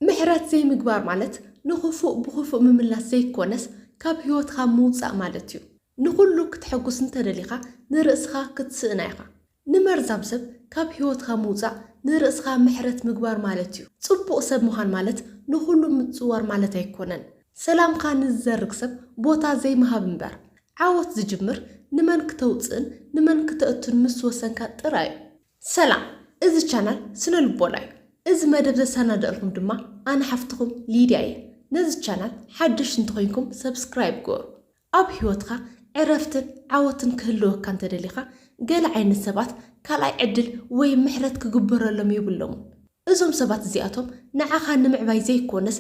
ምሕረት ዘይምግባር ማለት ንኽፉእ ብኽፉእ ምምላስ ዘይኮነስ ካብ ሕይወትካ ምውጻእ ማለት እዩ። ንኹሉ ክተሐጉስ እንተደሊኻ ንርእስኻ ክትስእና ኢኻ። ንመርዛም ሰብ ካብ ሕይወትካ ምውጻእ ንርእስኻ ምሕረት ምግባር ማለት እዩ። ጽቡቕ ሰብ ምዃን ማለት ንኹሉ ምጽዋር ማለት ኣይኮነን። ሰላምካ ንዝዘርግ ሰብ ቦታ ዘይምሃብ እምበር። ዓወት ዝጅምር ንመን ክተውጽእን ንመን ክተእቱን ምስ ወሰንካ ጥራይ እዩ። ሰላም እዚ ቻናል ስነ ልቦና እዩ እዚ መደብ ዘሳናደእልኩም ድማ ኣነ ሓፍትኩም ሊድያ እየ ነዚ ቻናል ሓደሽቲ እንተኮይንኩም ሰብስክራይብ ግበሩ ኣብ ሂወትካ ዕረፍትን ዓወትን ክህልወካ እንተደሊካ ገለ ዓይነት ሰባት ካልኣይ ዕድል ወይ ምሕረት ክግበረሎም የብሎሙን እዞም ሰባት እዚኣቶም ንዓኻ ንምዕባይ ዘይኮነስ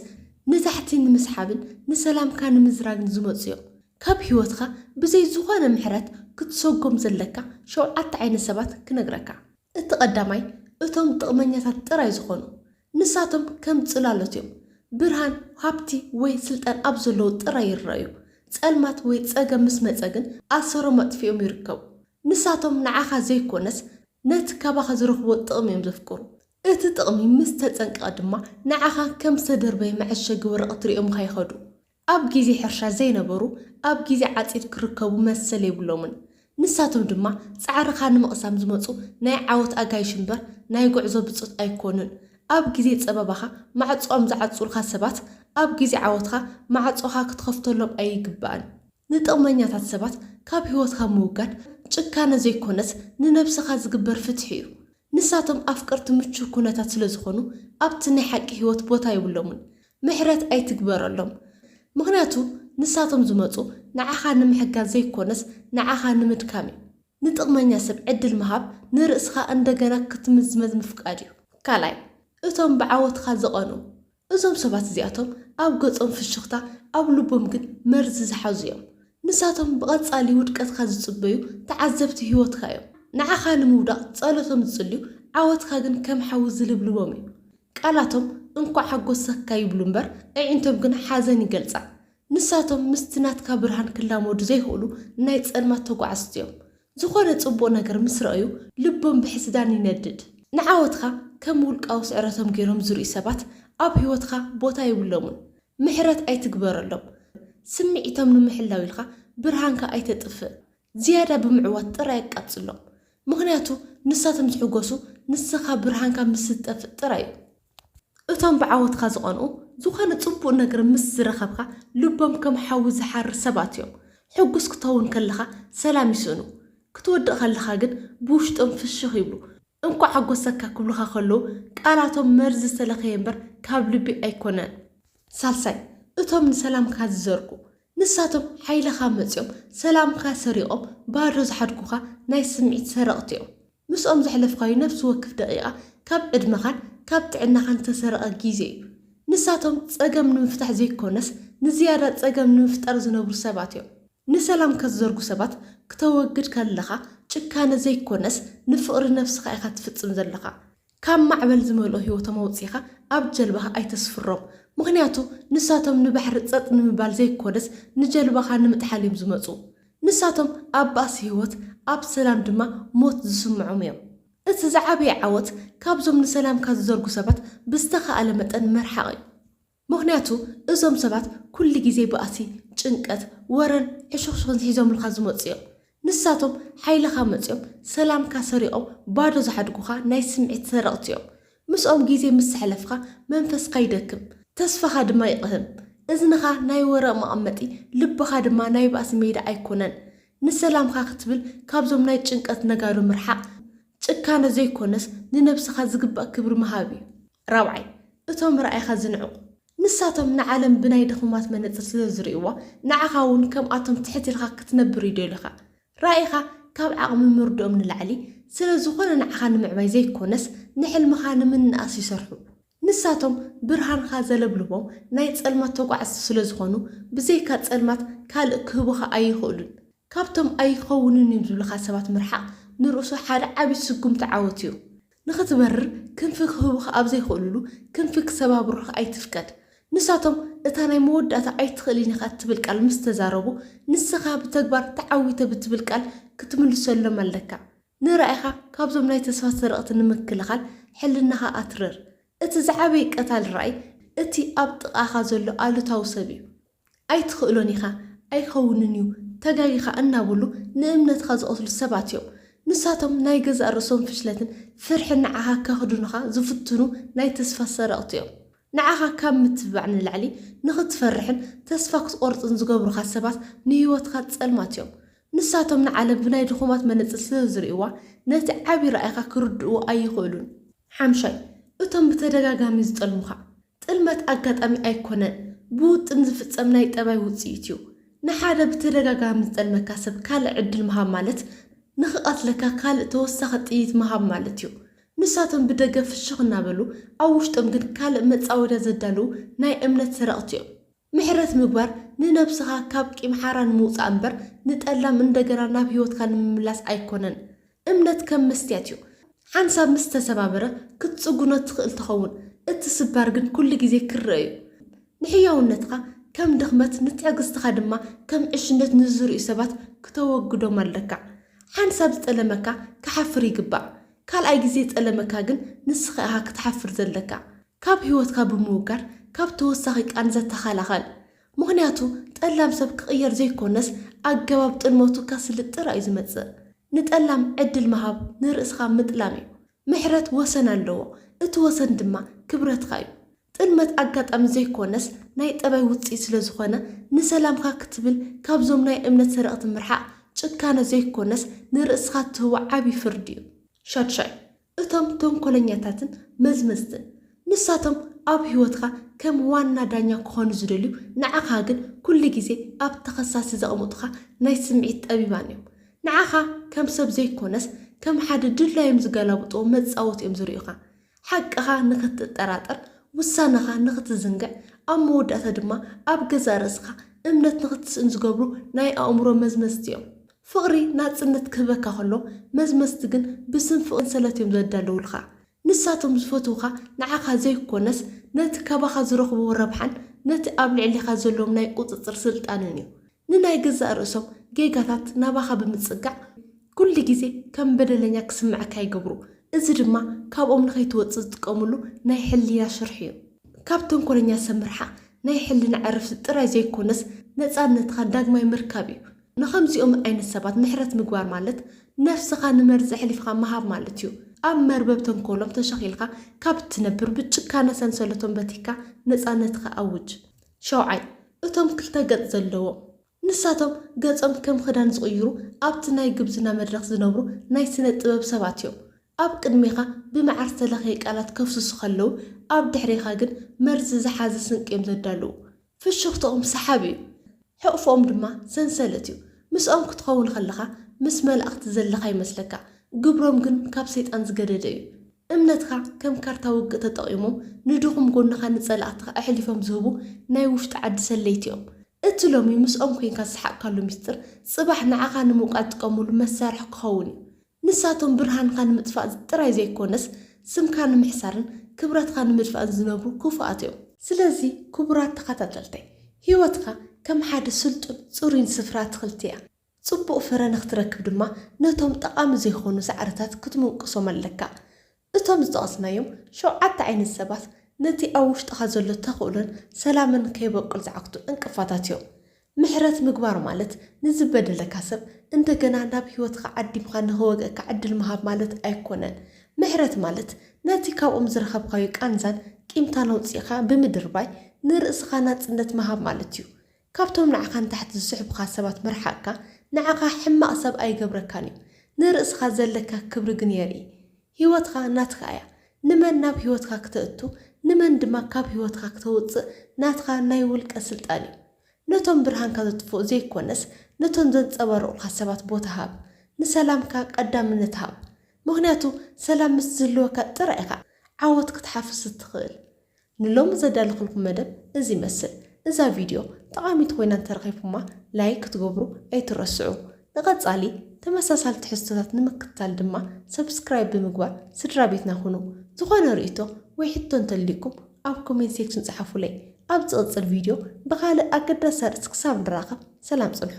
ንዛሕቲ ንምስሓብን ንሰላምካ ንምዝራግን ዝመጹ እዮም። ካብ ህይወትካ ብዘይ ዝኾነ ምሕረት ክትሰጎም ዘለካ ሸውዓተ ዓይነት ሰባት ክነግረካ። እቲ ቀዳማይ እቶም ጥቕመኛታት ጥራይ ዝኾኑ። ንሳቶም ከም ጽላሎት እዮም። ብርሃን፣ ሃብቲ ወይ ስልጣን ኣብ ዘለዉ ጥራይ ይረኣዩ። ጸልማት ወይ ጸገም ምስ መጸ ግን ኣሰሮም ኣጥፊኦም ይርከቡ። ንሳቶም ንዓኻ ዘይኮነስ ነቲ ካባኻ ዝረኽብዎ ጥቕሚ እዮም ዘፍቅሩ። እቲ ጥቕሚ ምስ ተጸንቀቐ ድማ ንዓኻ ከም ዝተደርበየ መዐሸጊ ወረቐት ርእዮምኻ ይኸዱ። ኣብ ግዜ ሕርሻ ዘይነበሩ ኣብ ግዜ ዓጺድ ክርከቡ መሰል የብሎምን። ንሳቶም ድማ ጻዕርኻ ንምቕሳም ዝመጹ ናይ ዓወት ኣጋይሽ እምበር ናይ ጉዕዞ ብጾት ኣይኮኑን። ኣብ ግዜ ጸበባኻ ማዕጾኦም ዝዓጽዉልካ ሰባት ኣብ ግዜ ዓወትኻ ማዕጾኻ ክትኸፍተሎም ኣይግባእን። ንጥቕመኛታት ሰባት ካብ ህይወትካ ምውጋድ ጭካነ ዘይኮነስ ንነብስኻ ዝግበር ፍትሒ እዩ። ንሳቶም ኣፍቀርቲ ምቹው ኩነታት ስለዝኾኑ ኣብቲ ናይ ሓቂ ህይወት ቦታ የብሎምን። ምሕረት ኣይትግበረሎም ምኽንያቱ ንሳቶም ዝመጹ ንዓኻ ንምሕጋዝ ዘይኮነስ ንዓኻ ንምድካም እዩ። ንጥቕመኛ ሰብ ዕድል ምሃብ ንርእስኻ እንደገና ክትምዝመዝ ምፍቃድ እዩ። ካልኣይ እቶም ብዓወትኻ ዝቐንኡ እዞም ሰባት እዚኣቶም ኣብ ገጾም ፍሽኽታ ኣብ ልቦም ግን መርዚ ዝሓዙ እዮም። ንሳቶም ብቐጻሊ ውድቀትካ ዝጽበዩ ተዓዘብቲ ህይወትካ እዮም። ንዓኻ ንምውዳቕ ጸሎ ከም ዝጽልዩ ዓወትካ ግን ከም ሓዊ ዝልብልቦም እዩ። ቃላቶም እንኳዕ ሓጎሰካ ይብሉ እምበር ኣዒንቶም ግን ሓዘን ይገልጻ። ንሳቶም ምስቲ ናትካ ብርሃን ክላመዱ ዘይክእሉ ናይ ጸልማት ተጓዓዝቲ እዮም። ዝኾነ ጽቡቕ ነገር ምስ ረኣዩ ልቦም ብሕስዳን ይነድድ። ንዓወትካ ከም ውልቃዊ ስዕረቶም ገይሮም ዝርእዩ ሰባት ኣብ ህይወትካ ቦታ የብሎምን። ምሕረት ኣይትግበረሎም። ስምዒቶም ንምሕላው ኢልካ ብርሃንካ ኣይተጥፍእ። ዝያዳ ብምዕዋት ጥራይ ኣቃጽሎም። ምኽንያቱ ንሳቶም ዝሕጎሱ ንስኻ ብርሃንካ ምስ ዝጠፍእ ጥራይ እዩ። እቶም ብዓወትካ ዝቐንኡ፣ ዝኾነ ጽቡቕ ነገር ምስ ዝረኸብካ ልቦም ከም ሓዊ ዝሓርር ሰባት እዮም። ሕጉስ ክትኸውን ከለኻ ሰላም ይስእኑ፣ ክትወድቕ ከለኻ ግን ብውሽጦም ፍሽኽ ይብሉ። እንኳዕ ሓጎሰካ ክብሉኻ ከለዉ ቃላቶም መርዚ ዝተለኸየ እምበር ካብ ልቢ ኣይኮነን። ሳልሳይ፣ እቶም ንሰላምካ ዝዘርጉ፣ ንሳቶም ሓይልኻ መጺኦም ሰላምካ ሰሪቖም ባዶ ዝሓድጉኻ ናይ ስምዒት ሰረቕቲ እዮም። ምስኦም ዘሕለፍካዮ ነፍሲ ወክፍ ደቒቓ ካብ ዕድመኻን ካብ ጥዕናኻን ዝተሰረቐ ግዜ እዩ። ንሳቶም ጸገም ንምፍታሕ ዘይኮነስ ንዝያዳ ጸገም ንምፍጣር ዝነብሩ ሰባት እዮም። ንሰላም ከትዘርጉ ሰባት ክተወግድ ከለኻ ጭካነ ዘይኮነስ ንፍቕሪ ነፍስኻ ኢኻ ትፍጽም ዘለኻ። ካብ ማዕበል ዝመልኦ ህይወቶም ኣውጺእኻ ኣብ ጀልባኻ ኣይተስፍሮም። ምኽንያቱ ንሳቶም ንባሕሪ ጸጥ ንምባል ዘይኮነስ ንጀልባኻ ንምጥሓል እዮም ዝመጹ። ንሳቶም ኣብ ባእሲ ህይወት ኣብ ሰላም ድማ ሞት ዝስምዖም እዮም። እቲ ዝዓበየ ዓወት ካብዞም ንሰላምካ ዝዘርጉ ሰባት ብዝተኻእለ መጠን ምርሓቕ እዩ። ምኽንያቱ እዞም ሰባት ኩሉ ግዜ ባእሲ፣ ጭንቀት፣ ወረን ሕሹኽሹኽን ሒዞምልካ ዝመጹ እዮም። ንሳቶም ሓይልኻ መጺኦም ሰላምካ ሰሪቖም ባዶ ዝሓድጉኻ ናይ ስምዒት ሰረቕቲ እዮም። ምስኦም ግዜ ምስ ኣሕለፍካ መንፈስካ ይደክም፣ ተስፋኻ ድማ ይቕህም። እዝንኻ ናይ ወረ መቐመጢ፣ ልብኻ ድማ ናይ ባእሲ ሜዳ ኣይኮነን። ንሰላምካ ክትብል ካብዞም ናይ ጭንቀት ነጋዶ ምርሓቕ ጭካነ ዘይኮነስ ንነብስኻ ዝግባእ ክብሪ ምሃብ እዩ። ራብዓይ፣ እቶም ራኢኻ ዝንዕቁ፣ ንሳቶም ንዓለም ብናይ ድኹማት መነጽር ስለ ዝርእይዋ፣ ንዓኻ'ውን ከምኣቶም ትሕት ኢልካ ክትነብር ይደልዩኻ። ራኢኻ ካብ ዓቕሚ ምርድኦም ንላዕሊ፣ ስለ ዝኾነ ንዓኻ ንምዕባይ ዘይኮነስ፣ ንሕልምኻ ንምንእኣስ ይሰርሑ። ንሳቶም ብርሃንኻ ዘለብልቦም ናይ ጸልማት ተጓዓዝቲ ስለ ዝኾኑ፣ ብዘይካ ጸልማት ካልእ ክህቡኻ ኣይኽእሉን። ካብቶም ኣይኸውንን እዩ ዝብልኻ ሰባት ምርሓቕ ንርእሱ ሓደ ዓቢ ስጉምቲ ዓወት እዩ። ንኽትበርር ክንፊ ክህቡኻ ኣብ ዘይክእሉሉ፣ ክንፊ ክሰባብሩኻ ኣይትፍቀድ። ንሳቶም እታ ናይ መወዳእታ ኣይትኽእልን ኢኻ እትብል ቃል ምስ ተዛረቡ፣ ንስኻ ብተግባር ተዓዊተ ብትብል ቃል ክትምልሰሎም ኣለካ። ንራኢኻ ካብዞም ናይ ተስፋ ሰረቕቲ ንምክልኻል ሕልናኻ ኣትርር። እቲ ዝዓበየ ቀታሊ ራኢ እቲ ኣብ ጥቓኻ ዘሎ ኣሉታዊ ሰብ እዩ። ኣይትኽእሎን ኢኻ፣ ኣይከውንን እዩ፣ ተጋጊኻ እናበሉ ንእምነትኻ ዝቐትሉ ሰባት እዮም። ንሳቶም ናይ ገዛእ ርእሶም ፍሽለትን ፍርሕን ንዓኻ ከኽድኑኻ ዝፍትኑ ናይ ተስፋ ሰረቕቲ እዮም። ንዓኻ ካብ ምትብባዕ ንላዕሊ ንኽትፈርሕን ተስፋ ክትቖርጽን ዝገብሩኻ ሰባት ንህይወትካ ጸልማት እዮም። ንሳቶም ንዓለም ብናይ ድኹማት መነጽር ስለ ዝርእዩዋ ነቲ ዓቢ ራእይኻ ክርድእዎ ኣይኽእሉን። ሓምሻይ፣ እቶም ብተደጋጋሚ ዝጠልሙኻ። ጥልመት ኣጋጣሚ ኣይኰነን፣ ብውጥን ዝፍጸም ናይ ጠባይ ውጽኢት'ዩ። ንሓደ ብተደጋጋሚ ዝጠልመካ ሰብ ካልእ ዕድል ምሃብ ማለት ንኽቐትለካ ካልእ ተወሳኺ ጥይት ምሃብ ማለት'ዩ። ንሳቶም ብደገ ፍሽኽ እናበሉ፣ ኣብ ውሽጦም ግን ካልእ መጻወድያ ዘዳልዉ ናይ እምነት ሰረቕቲ'ዮም። ምሕረት ምግባር ንነብስኻ ካብ ቂም ሓራ ንምውጻእ እምበር ንጠላም እንደገና ናብ ህይወትካ ንምምላስ ኣይኮነን። እምነት ከም መስትያት እዩ። ሓንሳብ ምስ ተሰባበረ ክትጽጉኖ ትኽእል ትኸውን። እቲ ስባር ግን ኩሉ ግዜ ክርኣ እዩ። ንሕያውነትካ ከም ድኽመት ንትዕግስትኻ ድማ ከም ዕሽነት ንዝርእዩ ሰባት ክተወግዶም ኣለካ። ሓንሳብ ዝጠለመካ ክሓፍር ይግባእ። ካልኣይ ግዜ ዝጠለመካ ግን ንስኻ ኢኻ ክትሓፍር ዘለካ። ካብ ህይወትካ ብምውጋድ ካብ ተወሳኺ ቃንዛ ተኸላኸል። ምኽንያቱ ጠላም ሰብ ክቕየር ዘይኮነስ ኣገባብ ጥልመቱ ከስልጥ ጥራይ እዩ ዝመጽእ። ንጠላም ዕድል ምሃብ ንርእስኻ ምጥላም እዩ። ምሕረት ወሰን ኣለዎ፣ እቲ ወሰን ድማ ክብረትካ እዩ። ጥልመት ኣጋጣሚ ዘይኮነስ ናይ ጠባይ ውጽኢት ስለ ዝኾነ ንሰላምካ ክትብል ካብዞም ናይ እምነት ሰረቕቲ ምርሓቕ ጭካነ ዘይኮነስ ንርእስኻ እትህቦ ዓቢ ፍርዲ እዩ። ሻድሻይ፣ እቶም ተንኮለኛታትን መዝመዝትን ንሳቶም ኣብ ህይወትካ ከም ዋና ዳኛ ክኾኑ ዝደልዩ ንዓኻ ግን ኩሉ ግዜ ኣብ ተኸሳሲ ዘቅምጡኻ ናይ ስምዒት ጠቢባን እዮም ንዓኻ ከም ሰብ ዘይኮነስ ከም ሓደ ድላዮም ዝገላብጥዎ መጻወቲ እዮም ዝሪኡኻ ሓቅኻ ንኽትጠራጠር ውሳነኻ ንኽትዝንግዕ ኣብ መወዳእታ ድማ ኣብ ገዛእ ርእስኻ እምነት ንኽትስእን ዝገብሩ ናይ ኣእምሮ መዝመዝቲ እዮም ፍቕሪ ናጽነት ክህበካ ከሎ፣ መዝመዝቲ ግን ብስም ፍቕሪ ሰንሰለት እዮም ዘዳልዉልካ። ንሳቶም ዝፈትዉኻ ንዓኻ ዘይኮነስ፣ ነቲ ካባኻ ዝረኽብዎ ረብሓን ነቲ ኣብ ልዕሌኻ ዘለዎም ናይ ቁጽጽር ስልጣንን እዩ። ንናይ ገዛእ ርእሶም ጌጋታት ናባኻ ብምጽጋዕ፣ ኩሉ ግዜ ከም በደለኛ ክስምዓካ ይገብሩ። እዚ ድማ ካብኦም ንኸይትወጽእ ዝጥቀምሉ ናይ ሕልና ሽርሒ እዩ። ካብ ተንኮለኛ ሰብ ምርሓቕ ናይ ሕልና ዕረፍቲ ጥራይ ዘይኮነስ፣ ነጻነትካ ዳግማይ ምርካብ እዩ። ንኸምዚኦም ዓይነት ሰባት ምሕረት ምግባር ማለት ነፍስኻ ንመርዚ ኣሕሊፍኻ ምሃብ ማለት እዩ። ኣብ መርበብ ተንኮሎም ተሸኺልካ ካብ እትነብር ብጭካነ ሰንሰለቶም በቲኽካ ነጻነትካ ኣውጅ። ሻውዓይ፣ እቶም ክልተ ገጽ ዘለዎም። ንሳቶም ገጾም ከም ክዳን ዝቕይሩ ኣብቲ ናይ ግብዝና መድረኽ ዝነብሩ ናይ ስነ ጥበብ ሰባት እዮም። ኣብ ቅድሜኻ ብመዓር ዝተለኽየ ቃላት ከፍስሱ ከለዉ ኣብ ድሕሬኻ ግን መርዚ ዝሓዘ ስንቂ እዮም ዘዳልዉ። ፍሽኽትኦም ሰሓቢ እዩ፣ ሕቕፍኦም ድማ ሰንሰለት እዩ። ምስኦም ክትኸውን ከለኻ ምስ መላእኽቲ ዘለኻ ይመስለካ፣ ግብሮም ግን ካብ ሰይጣን ዝገደደ እዩ። እምነትካ ከም ካርታ ውግእ ተጠቒሞም ንድኹም ጎንኻ ንጸላእትኻ ኣሕሊፎም ዝህቡ ናይ ውሽጢ ዓዲ ሰለይቲ እዮም። እቲ ሎሚ ምስኦም ኮይንካ ዝሰሓቕካሉ ምስጢር ጽባሕ ንዓኻ ንምውቃዕ ዝጥቀሙሉ መሳርሒ ክኸውን እዩ። ንሳቶም ብርሃንካ ንምጥፋእ ጥራይ ዘይኮነስ ስምካ ንምሕሳርን ክብረትካ ንምድፋእን ዝነብሩ ክፉኣት እዮም። ስለዚ ክቡራት ተኸታተልተይ ህይወትካ ከም ሓደ ስልጡን ጽሩይን ስፍራ ኣትኽልቲ እያ። ጽቡቕ ፍረ ንኽትረክብ ድማ ነቶም ጠቓሚ ዘይኮኑ ሳዕርታት ክትምንቁሶም ኣለካ። እቶም ዝጠቐስናዮም ሸውዓተ ዓይነት ሰባት ነቲ ኣብ ውሽጥኻ ዘሎ ተኽእሎን ሰላምን ከይበቁል ዝዓግቱ ዕንቅፋታት እዮም። ምሕረት ምግባር ማለት ንዝበደለካ ሰብ እንደገና ናብ ህይወትካ ዓዲምካ ንክወግኣካ ዕድል ምሃብ ማለት ኣይኮነን። ምሕረት ማለት ነቲ ካብኦም ዝረኸብካዮ ቃንዛን ቂምታን ኣውጺእካ ብምድርባይ ንርእስኻ ናጽነት ምሃብ ማለት እዩ። ካብቶም ንዓኻ ንታሕቲ ዝስሕቡኻ ሰባት ምርሓቕካ ንዓኻ ሕማቕ ሰብ ኣይገብረካን እዩ። ንርእስኻ ዘለካ ክብሪ ግን የርኢ። ህይወትካ ናትካ እያ። ንመን ናብ ህይወትካ ክተእቱ ንመን ድማ ካብ ህይወትካ ክተውጽእ ናትካ ናይ ውልቀ ስልጣን እዩ። ነቶም ብርሃንካ ዘጥፍኡ ዘይኮነስ ነቶም ዘንጸባርቑኻ ሰባት ቦታ ሃብ። ንሰላምካ ቀዳምነት ሃብ። ምኽንያቱ ሰላም ምስ ዝህልወካ ጥራይ ኢኻ ዓወት ክትሓፍስ እትኽእል። ንሎሚ ዘዳለኹልኩም መደብ እዚ ይመስል። እዛ ቪድዮ ጠቓሚት ኮይና እንተረኺብኩማ ላይክ ክትገብሩ ኣይትረስዑ። ንቐጻሊ ተመሳሳሊ ትሕዝቶታት ንምክትታል ድማ ሰብስክራይብ ብምግባር ስድራቤትና ኩኑ። ዝኾነ ርእይቶ ወይ ሕቶ እንተልዩኩም ኣብ ኮሜንት ሴክሽን ጽሓፉለይ። ኣብ ዝቕጽል ቪድዮ ብኻልእ ኣገዳሲ ኣርእስቲ ክሳብ ንራኸብ ሰላም ጽንሑ።